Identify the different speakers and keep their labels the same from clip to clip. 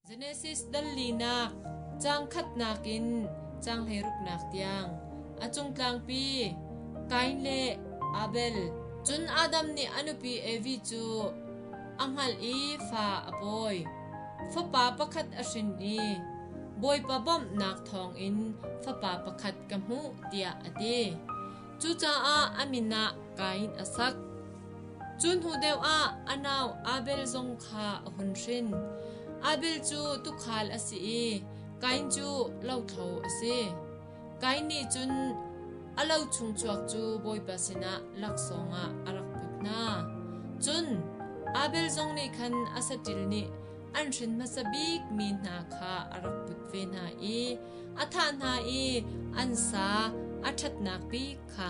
Speaker 1: Genesis dal linak caang khatnak in caang hleiruknak tiang a cung tlangpi Kain le Abel cun Adam nih a nupi Evi cu a hngalh i fa a pawi. Fapa pakhat a hrin i Bawipa bawmhnak thawngin fapa pakhat ka hmuh tiah a ti. Cucaah a min ah Kain a sak. Cu hnu deuh ah a nau Abel zong kha a hun hrin. Abel cu tuukhal a si i Kain cu lothlo a si. Kain nih cun a lo chungchuak cu Bawipa sinah laksawng ah a rak put hna. Cun Abel zong nih khan a saṭil nih an hrin hmasa bikmi hna kha a rak put ve hna i a thah hna i an sa a ṭhatnak bik kha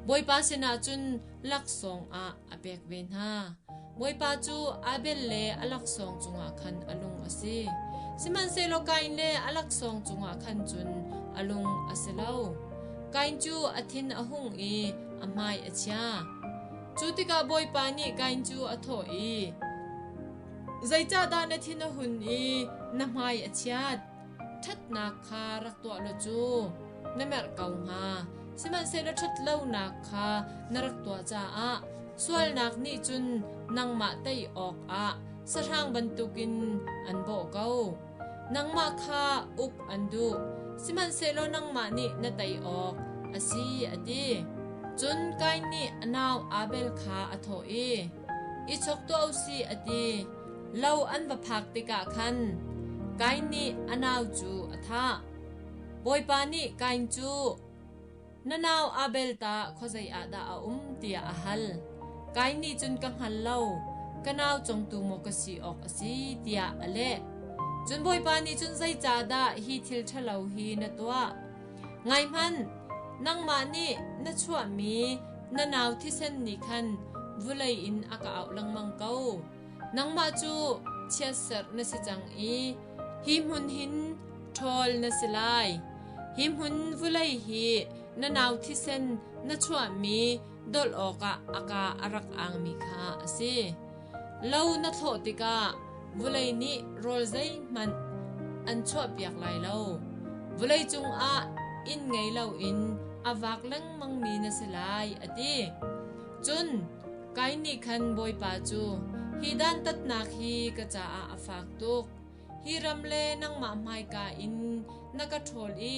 Speaker 1: Bawipa sinah cun laksawng ah a pek ve hna. Bawipa cu Abel le a laksawng cungah khan a lung a si. Sihmanhsehlaw Kain le a laksawng cungah khan cun a lung a si lo. Kain cu a thin a hung i a hmai a chia. Cu tikah Bawipa nih Kain cu a thawh i, Zeicahdah na thin a hun i na hmai a chiat? Ṭhatnak kha rak tuah law cu na merh ko hnga, sihmanhsehlaw ṭhat lonak kha na rak tuah caah sualnak nih cun nangmah tei awkah sahrang bantukin an bawh ko. Nangmah kha uk an duh, sihmanhsehlaw nangmah nih na tei awk a si, a ti. Cun Kain nih a nau Abel kha a thawh i, I chok tuah u sih, a ti. Lo an va phak tikah khan Kain nih a nau cu a thah. Bawipa nih Kain cu na nau Abel ta khuazei ah dah a um tiah a hal. Kain nih cun ka hngal lo, ka nau congtu maw ka si awk a si tiah a leh. Cun Bawipa nih cun zeicahdah hi thil ṭhalo hi na tuah? Ngaihmanh, nangmah nih na chuahmi na nau thisen nih khan vulei in a ka auh lengmang ko. Nangmah cu chiatserh na si cang i hi hmun hin ṭhawl na si lai. Hi hmun vulei hi na nau thisen na chuahmi dolh awkah a ka a rak angmi kha a si. Lo na thlawh tikah vulei nih rawl zeihmanh an chuahpiak lai lo. Vulei cungah inn ngei loin a vak lengmangmi na si lai, a ti. Cun Kain nih khan Bawipa cu, Hi dantatnak hi ka caah a fak tuk. Hi ram le nangmah hmaika in na ka ṭhawl i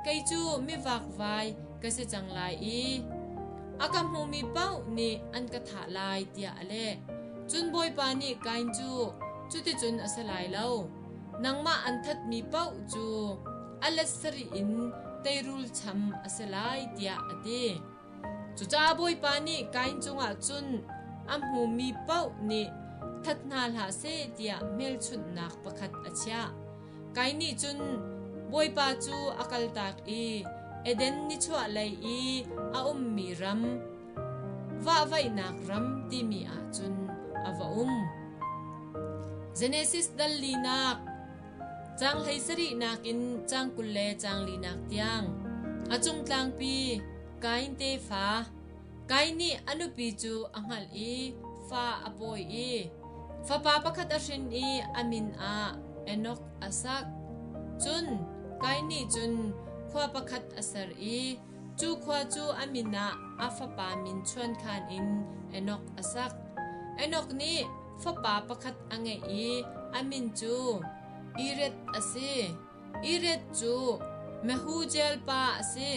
Speaker 1: kei cu mivakvai ka si cang lai i a ka hmumi paoh nih an ka thah lai, tiah a leh. Cun Bawipa nih Kain cu cuticun a si lai lo. Nangmah an thatmi paoh cu a let sarih in teirul cham a si lai, tiah a ti. Cucaah Bawipa nih Kain cungah cun a hmumi paoh nih that hna hlah seh tiah hmelchunhnak pakhat a chiah. Kain nih cun Bawipa cu a kaltak i Eden nichuahlei i a ummi ram, vahvaihnak ram timi ah cun a va um. Genesis dal linak Caang hlei sarih nakin caang kul le caang linak tiang a cung tlangpi Kain tefa Kain nih a nupi cu a hngalh i fa a pawi i fapa pakhat a hrin i a min ah Enok a sak. Cun Kain nih cun khua pakhat a ser i Cu khua cu a min ah a fapa min chuankhan in Enok a sak. Enok nih fapa pakhat a ngeih i a min cu Ireth a si. Ireth cu Mehujael pa a si.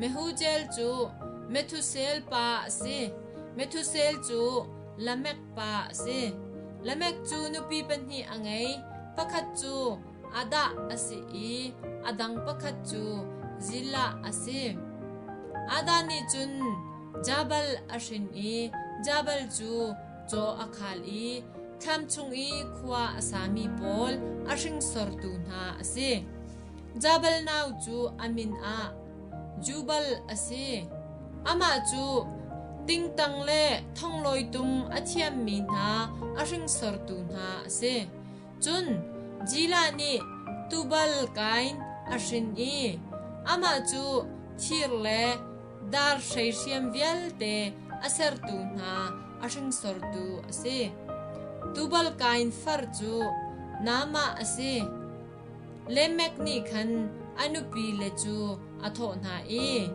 Speaker 1: Mehujael cu Methusel pa a si. Methusel cu Lamek pa a si. Lamek cu nupi pahnih a ngei. Pakhat cu a dah a si i a dang pakhat cu Zillah a si. Ada nih cun Jabal a hrin i Jabal cu caw a khal i thlam chung i khua a sami pawl a hringsortu hna a si. Jabal nau cu a min ah Jubal a si. Amah cu tingtang le thonglawi tung a thiammi hna a hringsortu hna a si. Cun Jila nih tubal kain a hrin i amah cu thir le dar hreihriam vialte a sertu hna a hringsortu a si. Tubal kain far cu Naamah a si. Lemek nih khan a nupile cu a thawh hna i,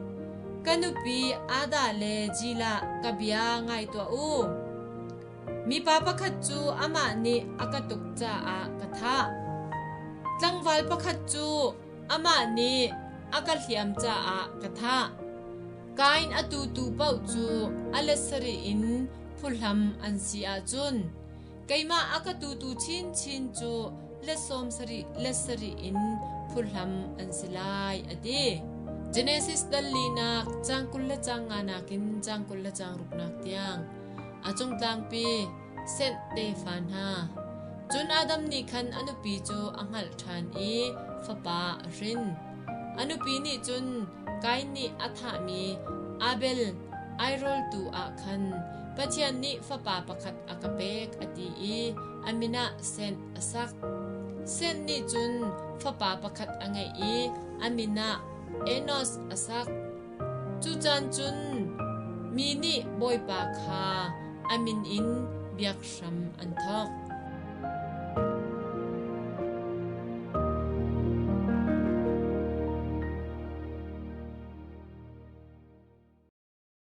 Speaker 1: Ka nupi Adah le Jila ka bia ngai tuah u. Mipa pakhat cu amah nih a ka tuk caah ka thah. Tlangval pakhat cu amah nih a ka hliam caah ka thah. Kain a tutu paoh cu a let sarih in phuhlam an si ahcun keimah a ka tutu chinchin cu let sawm sarih let sarih in phuhlam an si lai, a ti. Genesis dal linak cang kul le cang nga nakin cang kul le cang ruknak tiang a cung tlangpi Seth tefa hna. Cun Adam nih khan a nupi cu a hngalh ṭhan i fapa a hrin. A nupi nih cun Kain nih a thahmi Abel ai rawltu ah khan Pathian nih fapa pakhat a ka pek a ti i a min ah Seth a sak. Seth nih cun fapa pakhat a ngeih i a min ah Enos a sak. Cu caan cun mi nih Bawipa kha a min in biakhram an thawk.